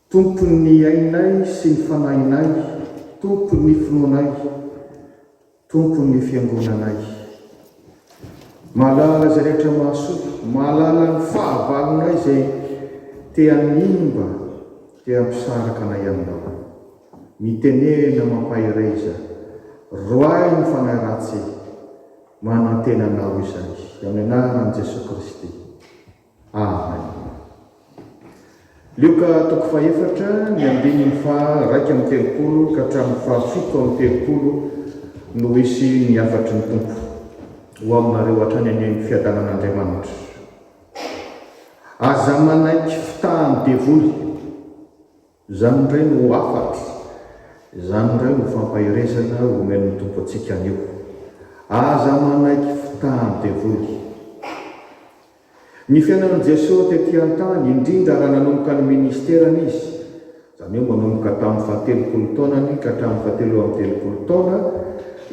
Tompon'ny ainay sy ny fanahinay, Tompon'ny finoanay, Tompon'ny Fiangonanay. Mahalala izay rehetra mahasoa, mahalala ny fahavalonay izay te-hanimba, te-hampisaraka anay Aminao. Mitenena mampahery iza, roahy ny fanahy ratsy e! Manantena Anao izany, amin'ny anaran'i Jesoa Kristy. Amen. Lioka toko fahefatra, ny andininy faha raika amby telopolo ka hatramin'ny faha fito amby telopolo no hisy ny hafatry ny Tompo ho aminareo hatrany any amin'ny fiadanan'Andriamanitra. Aza manaiky fitahan'ny devoly. Izany indray no hafatro, izany indray no fampaherezana omen'ny Tompo antsika anio. Aza manaiky fitahan'ny devoly. Ny fiainan'i Jesoa tety an-tany, indrindra raha nanomboka ny ministerany Izy, izany hoe manomboka tamin'ny fahatelopolo taonany ka hatramin'ny fahatelo amby telopolo taona,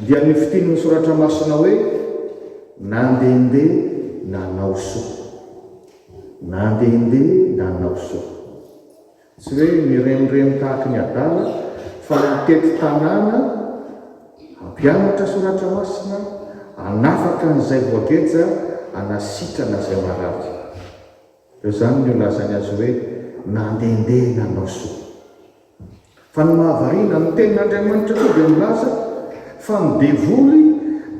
dia nifitinin'ny Soratra Masina hoe, Nandehandeha nanao soa. Nandehandeha nanao soa. Tsy hoe mirenireny tahaka ny adala fa mitety tanàna, hampianatra soratra masina, hanafaka an'izay voageja, hanasitrana izay marary. Dia izany no ilazany azy hoe nandehandeha nanao soa. Fa ny mahavariana, ny Tenin'Andriamanitra koa dia milaza fa ny devoly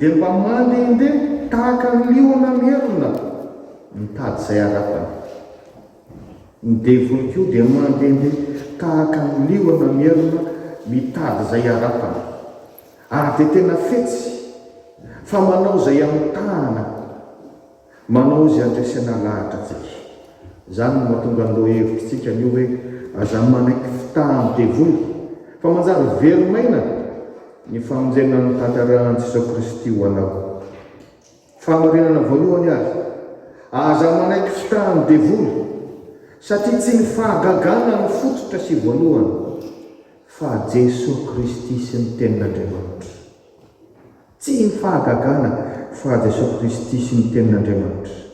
dia mba mandehandeha tahaka ny liona merina mitady izay harapany. Ny devoly koa dia mandehandeha tahaka ny liona miherina mitady izay harapany. Ary dia tena fetsy fa manao izay amitahana manao izy handresena lahatra antsika. Izany no mahatonga ny lohahevitrintsika anio hoe aza manaiky fitahan'ny devoly fa manjary velon'aina ny famonjena notantarahin'i Jesoa Kristy ho anao. Fahamarinana voalohany ary, aza manaiky fitahan'ny devoly, satria tsy ny fahagagana no fototra sy voalohany, fa Jesoa Kristy sy ny Tenin'Andriamanitra. Tsy ny fahagagana, fa Jesoa Kristy sy ny Tenin'Andriamanitra.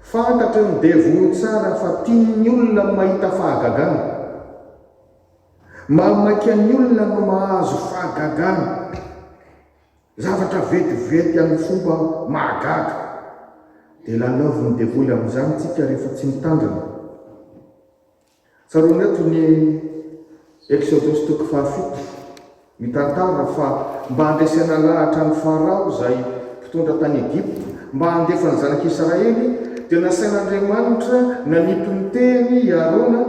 Fantatry ny devoly tsara fa tian'ny olona ny mahita fahagagana. Mahamaika ny olona no mahazo fahagagana. Zavatra vetivety amin'ny fomba mahagaga dia lalaovin'ny devoly amin'izany isika rehefa tsy mitandrina. Tsaroana eto ny Eksodosy toko fahafito, mitantara fa mba handresena lahatra an'i Farao izay mpitondra tany Egypta mba handefa ny zanak'i Israely dia nasain'Andriamanitra nanipy ny tehiny i Arona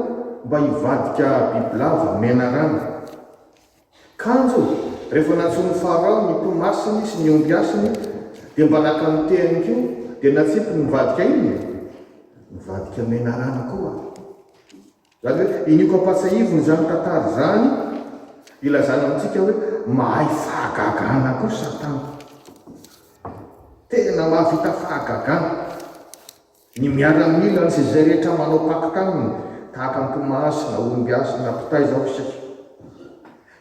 mba hivadika bibilava menarana. Kanjo, rehefa nantsoin'i Farao ny mpimasiny sy ny ombiasiny, dia mba naka ny tehiny koa, dia natsipiny nivadika inona e? Nivadika menarana koa. Izany hoe, iniako ampatsahivina izany tantara izany, ilazana amintsika hoe mahay fahagagana koa Satana. Tena mahavita fahagagana. Ny miaramila sy izay rehetra manao pacte aminy tahaka an'i Tomasy na Olombiasy na mpitaiza ao isika.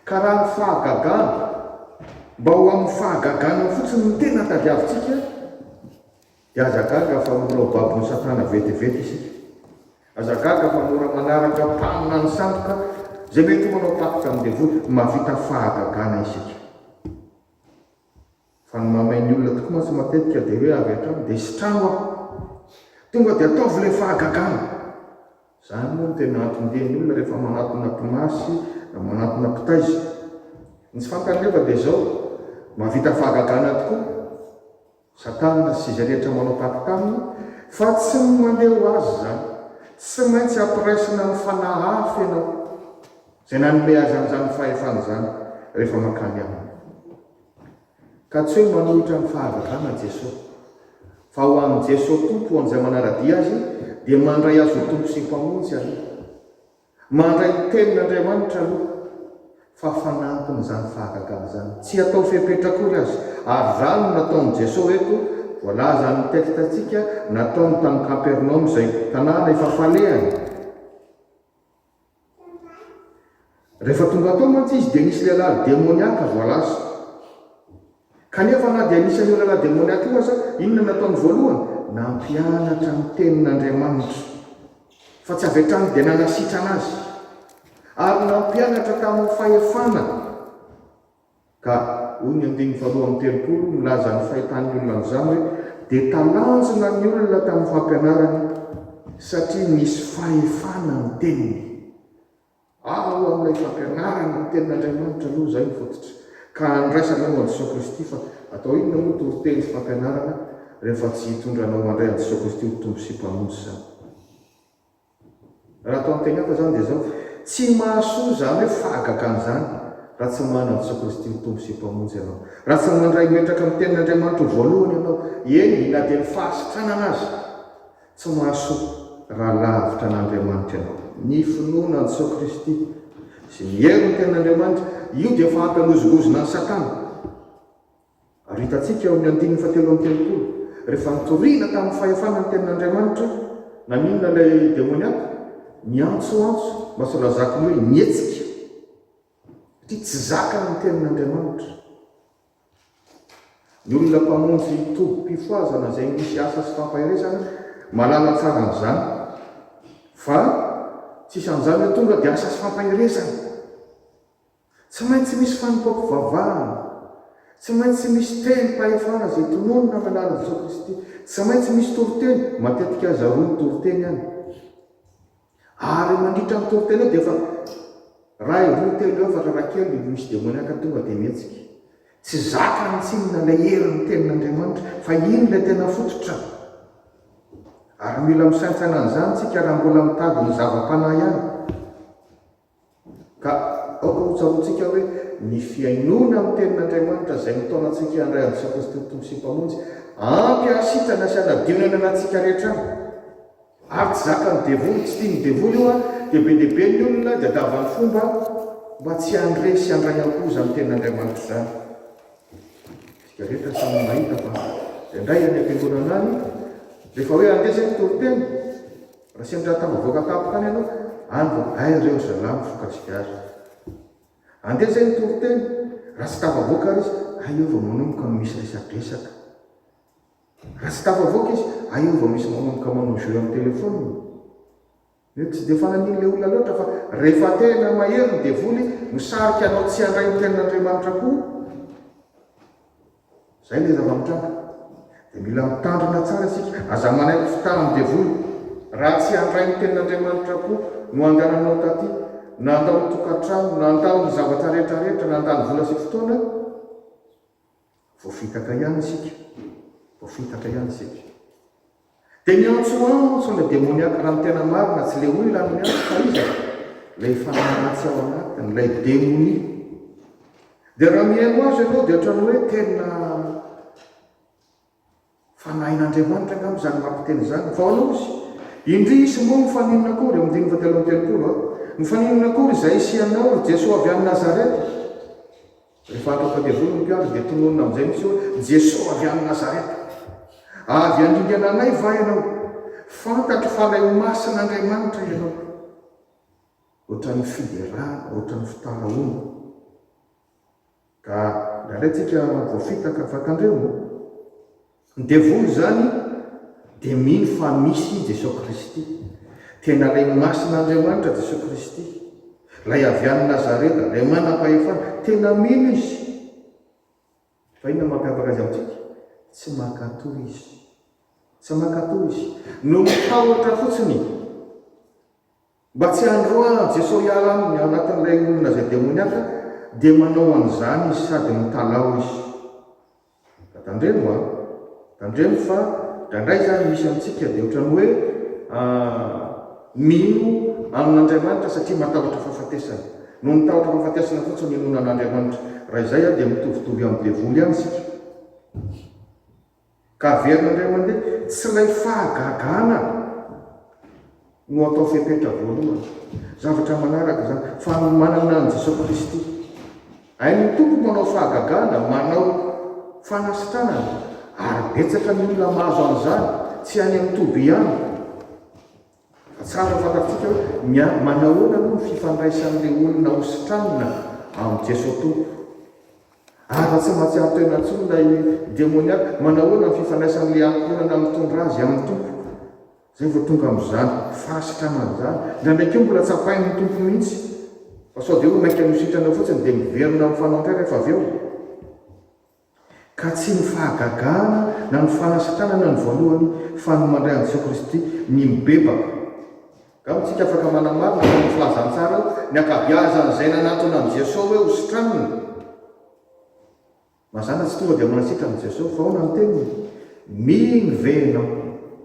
Ka raha ny fahagagana, mba ho amin'ny fahagagana fotsiny no tena tadiavintsika, dia aza gaga fa mora ho babon'i Satana vetivety isika. Aza gaga fa mora manaraka mpaminany sandoka izay mety ho manao pacte amin'ny devoly. Mahavita fahagagana isika. Fa ny mahamay ny olona tokoa mantsy matetika dia hoe avy hatrany dia sitrano aho. Tonga dia ataovy ilay fahagagana. Izany moa no tena anton-dian'ny olona rehefa manatona mpimasy na manatona mpitaiza. Ny tsy fantany nefa dia izao, mahavita fahagagana tokoa Satana sy izay rehetra manao taky taminy fa tsy ny mandeha ho azy izany. Tsy maintsy ampiraisina amin'ny fanahy hafa ianao izay nanome azy an'izany fahefana izany rehefa mankany aminy. Ka tsy hoe manohitra ny fahazazana Jeso. Fa ho an'i Jeso Tompo ho an'izay manara-dia Azy dia mandray Azy ho Tompo sy Mpamonjy aloha. Mandray ny Tenin'Andriamanitra aloha fa fanampiny izany fahagagana izany. Tsy atao fepetra akory aza. Ary izany no nataon'i Jeso eto voalazan'ny texte-ntsika nataony tany Kapernaomy izay tanàna efa falehany. Rehefa tonga tao mantsy izy dia nisy lehilahy demoniaka voalaza. Kanefa na dia anisan'io lehilahy demoniaka io aza, inona no nataony voalohany? Nampianatra ny Tenin'Andriamanitra, fa tsy avy hatrany dia nanasitrana azy, ary nampianatra tamin'ny fahefana. Ka, hoy ny andininy faharoa amby telopolo, milaza ny fahitan'ny olona an'izany hoe, Dia talanjona ny olona tamin'ny fampianarany, satria nisy fahefana ny teniny. Ao amin'ilay fampianarana ny tenin'Andriamanitra aloha izay no fototra, ka andraisana eo an'Jesosy Kristy, fa atao inona moa toriteny sy fampianarana rehefa tsy hitondra anao mandray an'i Jesosy Kristy ho Tompo sy Mpamonjy izany? Raha atao an-tenanao izany dia izao, Tsy mahasoa izany hoe fahagagana izany raha tsy manana an'i Jesoa Kristy ho Tompo sy Mpamonjy ianao, raha tsy mandray metraka amin'ny Tenin'Andriamanitra ho voalohany ianao, eny na dia ny fahasitranana aza. Tsy mahasoa raha lavitra an'Andriamanitra ianao. Ny finoana an'i Jesoa Kristy sy ny herin'ny Tenin'Andriamanitra, io dia efa hampihanozongozona an'i Satana. Ary hitantsika ao amin'ny andininy fahatelo amby telopolo, rehefa nitoriana tamin'ny fahefana ny tenin'Andriamanitra hoe, Naninona ilay demoniaka? Niantsoantso mba sao lazako ny hoe nihetsika, satria tsy zakany ny tenin'Andriamanitra. Ny olona mpamonjy tobim-pifohazana izay misy asa sy fampaherezana mahalala tsara an'izany, fa tsisy an'izany hoe tonga dia asa sy fampaherezana. Tsy maintsy misy fanompoam-pivavahana. Tsy maintsy misy tenim-pahefana izay tononina amin'ny alalan'i Jesoa Kristy. Tsy maintsy misy toriteny, matetika aza roa ny toriteny any. Ary mandritra ny toriteny eo dia efa iray, roa, telo, efatra raha kely no misy demoniaka tonga dia mihetsika. Tsy zakany tsinona ilay herin'ny Tenin'Andriamanitra. Fa iny ilay tena fototra. Ary mila misaintsaina an'izany isika raha mbola mitady ny zava-panahy ihany. Ka aoka hotsaroantsika hoe ny fihainoana ny Tenin'Andriamanitra izay mitaona antsika handray an'i Jesoa Kristy ho Tompo sy Mpamonjy, ampy hahasitrana sy hanadio ny ananantsika rehetra aminy. Ary tsy zakan'ny devoly, tsy tian'ny devoly io an, dia be dia be ny olona diadavan'ny fomba mba tsy handre sy handray am-po izany Tenin'Andriamanitra izany. Isika rehetra samy mahita fa izay indray any am-piangonana any, rehefa hoe handeha isika toriteny, Raha sendra ahatambavoaka tampoka any ianao any vao hay reo ry zalahy mifoka sigara. Andeha zay ny toriteny, raha tsy tafavoaka ary izy hay eo vao manomboka no misy resadresaka. Raha tsy tafavoaka izy hay eo vao misy manomboka manao jeux amin'ny téléphone. Mety tsy dia fananiny le olona loatra fa rehefa tena mahery ny devoly no sarika anao tsy handray ny tenin'Andriamanitra koa. Izay ilay zava-mitranga. Dia mila mitandrina tsara isika. Aza manaiky fitahan'ny devoly. Raha tsy handray ny tenin'Andriamanitra koa no andehananao taty, na handao ny tokantrano, na handao ny zavatra rehetrarehetra, na handany vola sy fotoana, voafitaka ihany isika. Voafitaka ihany isika. Dia niantso antso ny demoniaka raha ny tena marina tsy ilay olona no niantso fa iza e? ilay fanahy ratsy ao anatiny, ilay demonia. Dia raha mihaino azy ianao dia ohatran'ny hoe tena fanahin'Andriamanitra angamba izany mampiteny izany. Fa hono izy, indrisy moa mifaninona akory, amin'ny dimy fahatelo amby telopolo a, mifaninona akory izahay sy ianao, ry Jesoa avy any Nazareta? Rehefa hatao tadiavory ny mpiandry dia tononina amin'izay mihitsy hoe, Jeso avy any Nazareta! Avy handringana anay va ianao? Fantatro fa ilay ho masin' Andriamanitra ianao. Ohatran'ny fiderana, ohatran'ny fitaraoana. Ka ndraindray tsika voafitaka, fa tandremo. Ny devoly izany dia mino fa misy Jesosy Kristy. Tena Ray Masina Andriamanitra Jesosy Kristy, Ilay avy any Nazareta, Ilay manam-pahefana. Tena mino izy. Fa inona no mampiavaka azy amintsika? Tsy mankatò izy. Tsy mankatò izy. Noho ny tahotra fotsiny. Mba tsy handroahan'i Jesoa hiala aminy ao anatin'ilay olona izay demoniaka dia manao an'izany Izy sady mitalaho Izy. Ka tandremo an! Tandremo fa indraindray izany misy amintsika dia ohatran'ny hoe mino amin'Andriamanitra satria matahotra fahafatesana. Noho ny tahotra fahafatesana fotsiny no inoana an'Andriamanitra. Raha izay dia mitovitovy amin'ny devoly ihany isika. Ka averina indray mandeha. Tsy ilay fahagagana no atao fepetra voalohany. Zavatra manaraka izany. Fanomanana an'i Jesoa Kristy. Hain'ny Tompo manao fahagagana, manao fanasitranana. Ary betsaka ny olona mahazo an'izany. Tsy any amin'ny toby ihany. Tsara fantatsika ny a manahoana moa ny fifandraisan'ilay olona hositranina amin'i Jesoa Tompo. Ary raha tsy mahatsiaro tena intsony ilay demoniac, manahoana ny fifandraisan'ilay ankohonana mitondra azy amin'ny Tompo? Izay vao tonga amin'izany fahasitranana izany. Indraindray koa mbola tsapain'ny Tompo mihitsy fa sao dia hoe mainka nositrana eo fotsiny dia miverina amin'ny fanaon'Ray rehefa avy eo. Ka tsy ny fahagagana na ny fanasitranana no voalohany fa ny mandray an'i Jesoa Kristy, ny mibebaka. Angamba isika afaka manamarina fa ny filazantsara eo, ny ankabiazan'izay nanatona an'i Jesoa hoe ho sitranina. Mazàna tsy tonga dia manasitra an'i Jesoa, fa ahoana ny teniny? Mino ve ianao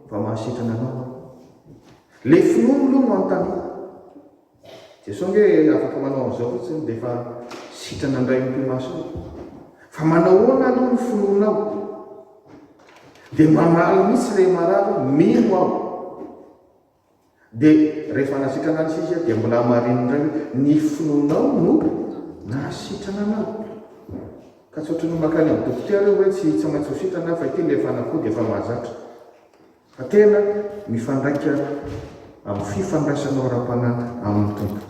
fa mahasitrana anao Aho? Ilay finoany aloha no anontaniana. Jesoa ange afaka manao an'izao fotsiny dia efa sitrana indray ny mpimasony. Fa manahoana aloha ny finoanao? Dia mamaly mihitsy ilay marary, mino aho. Dia rehefa nasitrana azy izy dia mbola hamariny indray hoe ny finoanao no nahasitrana anao. Ka tsy ohatran'ny makany amin'ny dokotera io hoe tsy tsy maintsy ho sitrana fa ity ilay fanafody efa mahazatra. Fa tena mifandraika amin'ny fifandraisanao ara-panahy amin'ny Tompo.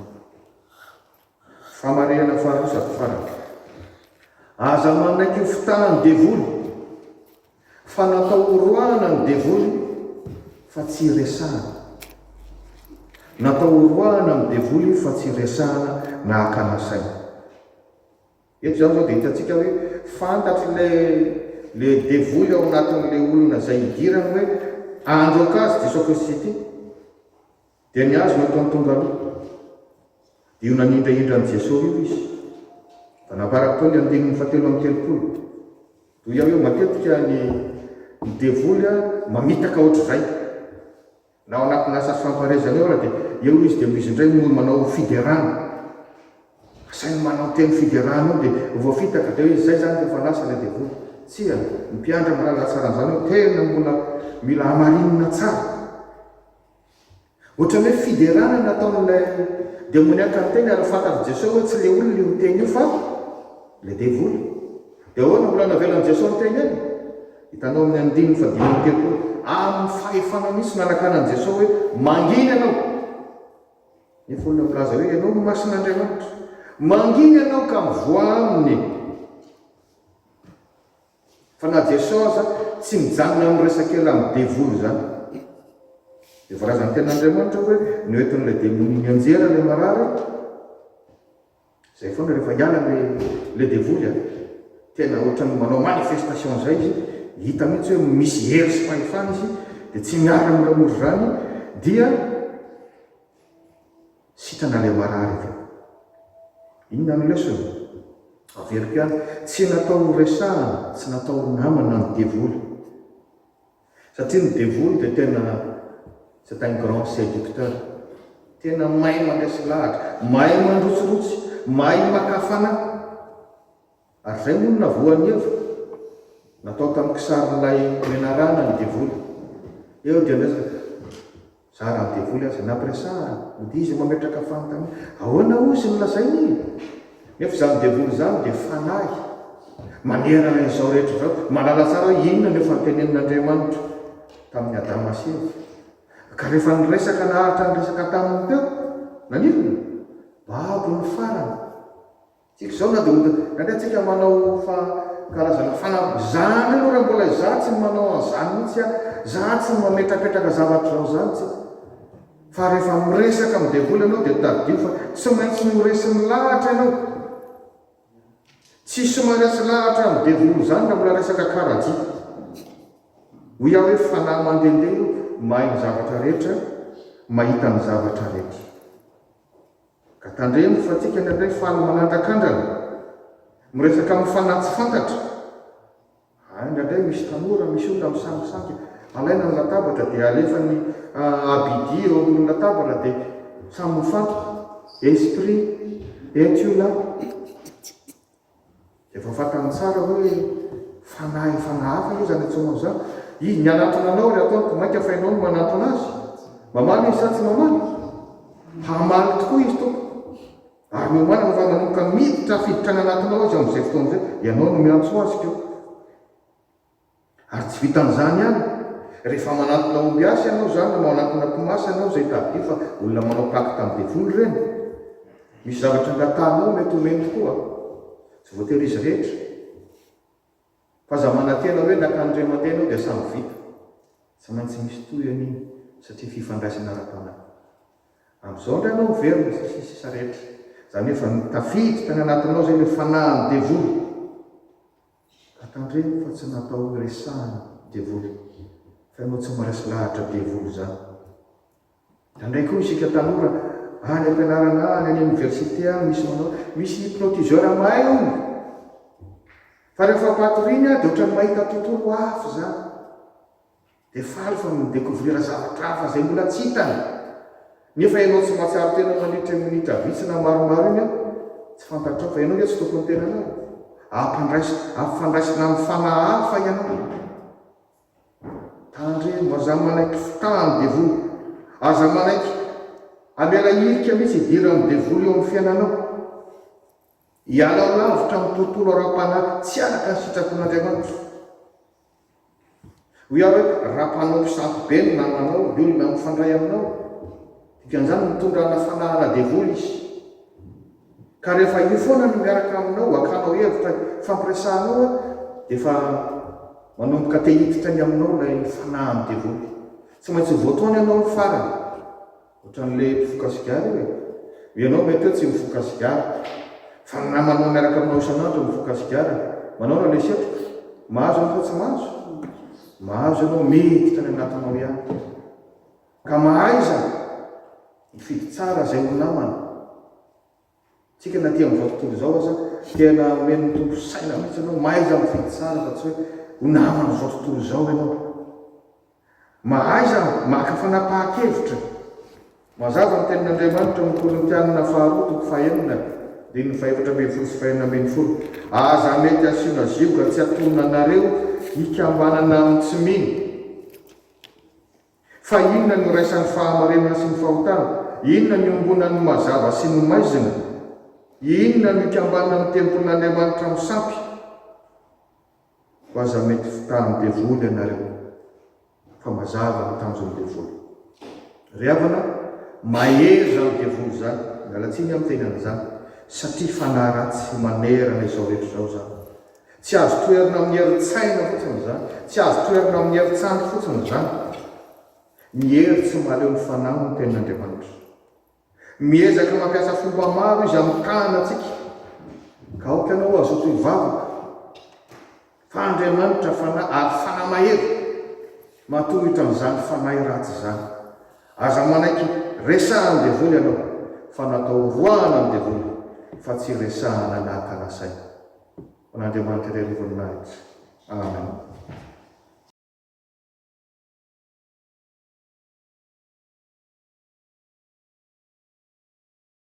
Famarihana faharoa sady farany. Aza manaiky ho fitahan'ny devoly, fa natao horoahana ny devoly fa tsy hiresahana. Natao horoahana ny devoly fa tsy hiresahana na hakana saina. Eto izany izao dia hitantsika hoe fantatr'ilay ilay devoly ao anatin'ilay olona izay hidirany hoe handroaka azy ity sophosis ity. Dia ny azy no ataony tonga aloha. Dia io nanindrahindra an'i Jesoa io izy. Mba namparako teo ny andininy fahatelo amby telopolo. Toy aho hoe matetika ny ny devoly mamitaka ohatr'izay. Na ao anatin'ny asa fifampahareazana eo ary dia eo izy dia izy indray no manao fiderana. Izay no manao teny fiderana eo dia voafitaka dia hoe izay izany rehefa lasa ilay devoly. Tsia, ny mpiandry mahalala tsara an'izany hoe tena mbola mila hamarinina tsara. Ohatran'ny hoe fiderana no ataon'ilay demoniaka ny teny ary fantatr'i Jesoa hoe tsy ilay olona io teny io fa ilay devoly. Dia ahoana mbola navelan'i Jesoa niteny eny? Hitanao amin'ny andininy fahadimy amby telopolo, amin'ny fahefana mihitsy nanakana an'i Jesoa hoe, Manginy ianao! Nefa olona milaza hoe ianao no Masin'Andriamanitra. Manginy ianao ka mivoaha aminy! Fa na Jesoa aza tsy mijanona amin'ny resaka ela amin'ny devoly izany. Dia voalazan'ny tenin'Andriamanitra hoe noentin'ilay demonia nianjera ilay marary, Zay foana rehefa hiala le le devoly a, tena ohatran'ny manao manifestation zay izy, hita mihitsy hoe misy hery sy fahefana izy de tsy miala moramora izany dia sitrana le marary avy eo. Inona ny lesona? Averiko ihany, tsy natao ho resahana, tsy natao ho namana ny devoly. Satria ny devoly dia tena c'est un grand séducteur. Tena mahay mandresy lahatra, mahay mandrotsirotsy, mahay maka fanahy. Ary izay moa no navoan'i Eva. Natao tamin'ny kisarin'ilay menarana ny devoly. Eo dia niresaka. Za raha devoly aza nampiresahana dia izy no mametraka fanontaniana. Ahoana hoy izy no lazainy e? Nefa izany devoly izany dia fanahy manerana izao rehetra izao. Mahalala tsara hoe inona no efa notenenin'Andriamanitra tamin'i Adama sy Eva. Ka rehefa niresaka naharitra ny resaka taminy teo, nanirina? Babo ny farany. Tsy izao na Daoda. Ingahy antsika manao fa karazana fanamby izany aloha raha mbola izaho tsy manao an'izany mihitsy aho, izaho tsy mametrapetraka zavatra izao izany tsy. Fa rehefa miresaka amin'ny devoly ianao dia tadidio fa tsy maintsy ho resy milahatra ianao. Tsisy maharesy lahatra amin'ny devoly izany raha mbola resaka karajia. Hoy aho hoe fanahy mandehandeha io, mahay ny zavatra rehetra, mahita ny zavatra rehetra. Ka tandremo fa tika ny anay faly manandrakandrana, miresaka amin'ny fanahy tsy fantatra. Hay indraindray misy tanora, misy olona misangisangy, alaina ny latabatra dia alefa ny Abidi eo ambonin'ny latabatra dia samy mifantoka, esprit, et tu là? Efa fantany tsara hoe fanahy fanahy hafa io izany Etsôma izany. Izy mianatona anao ary ataony ko mainka fa ianao no manantona azy. Mamaly izy sa tsy mamaly? Hamaly tokoa izy tompoko. Ary miomanana fa manomboka miditra fiditra any anatinao izy amin'izay fotoana izay. Ianao no miantso azy ko. Ary tsy vitan'izany ihany, rehefa manantona ombiasy ianao izany na manantona tomasy ianao izay tadidio fa olona manao pacte amin'ny devoly ireny, misy zavatra angatahanao mety homeny tokoa, tsy voatery izy rehetra, fa aza manantena hoe naka an'Andriamanitra ianao dia samy vita, tsy maintsy misy tohiny iny satria fifandraisana ara-panahy. Amin'izao indray ianao miverina sy sisa sisa rehetra, izany hoe efa tafiditra tany anatinao izay ilay fanahin'ny devoly. Ka tandremo fa tsy natao hiresahana devoly fa ianao tsy maresy lahatra devoly zany. Tandray koa isika tanora any ampianarana any any université any misy manao misy hypnotiseur mahay hono fa rehefa patoriny dia ohatran'ny mahita tontolo hafa izany. Dia faly fa mi-decouvrir zavatra hafa izay mbola tsy hitany. Nefa ianao tsy mahatsiaro tena mandritra io minitra vitsy na maromaro iny an, tsy fantatrao fa ianao ve tsy tompon'ny tenanao? Ampandraisina, ampifandraisina amin'ny fanahy hafa ianao. Tandremo, aza manaiky fitahan'ny devoly. Aza manaiky hamela hirika mihitsy hidiran'ny devoly eo amin'ny fiainanao. Ialao lavitra amin'ny tontolo ara-panahy tsy araka ny sitrapon'Andriamanitra. Hoy aho hoe, Raha mpanompo sampy be no namanao, ny olona mifandray aminao, dikan'izany mitondra ana fanahana devoly izy. Ka rehefa io foana no miaraka aminao, hakanao hevitra hifampiresahanao, dia efa manomboka te hiditra ny aminao ilay fanahan'ny devoly. Tsy maintsy ho voataona ianao ny farany. Ohatran'ilay mpifoka sigara io e! Ianao ve teo tsy mifoka sigara? Fa ny namanao miaraka aminao isan'andro no mifoka sigara e! Manaona ilay setroka? Mahazo anao sa tsy mahazo? Mahazo ianao, miditra any anatinao ihany. Ka mahaiza mifidy tsara izay ho namana. Tsika na aty amin'izao tontolo izao aza, tena omen'ny Tompo saina mihitsy ianao, mahaiza mifidy tsara fa tsy hoe ho naman'izao tontolo izao ianao. Mahaiza maka fanapahan-kevitra. Mazava ny tenin'Andriamanitra ao amin'ny Korintianina faharoa toko fahenina, andininy fahefatra ambin'ny folo sy fahenina ambin'ny folo, Aza mety asiana zioga tsy hatonina anareo hikambanana amin'ny tsy mino. Fa inona ny iraisan'ny fahamarinana sy ny fahotana? Inona ny iombonan'ny mazava sy ny maizina? Inona no ikambanan'ny tempolin'Andriamanitra misampy ho aza mety fitahan'ny devoly ianareo? Fa mazava ny tanjon'ny devoly. Ry havana, mahery izany devoly izany, miala tsiny amin'ny fiainana izany, satria fanahy ratsy manerana izao rehetra izao izany. Tsy azo toherina amin'ny herin-tsaina fotsiny izany, tsy azo toherina amin'ny herin-tsandry fotsiny izany. Ny hery tsy mahaleo ny fanahy hoy ny Tenin'Andriamanitra. Miezaka mampiasa fomba maro Izy hamitahana antsika, ka aoka ianao hazoto hivavaka fa Andriamanitra Fanahy ary Fanahy mahery, matoa hitan'izany fanahy ratsy izany. Aza manaiky resahan'ny devoly ianao, fa natao horoahana ny devoly, fa tsy hiresahana nahaka nasaina. An'Andriamanitra Ilay Rovan'ny Lanitra. Amen.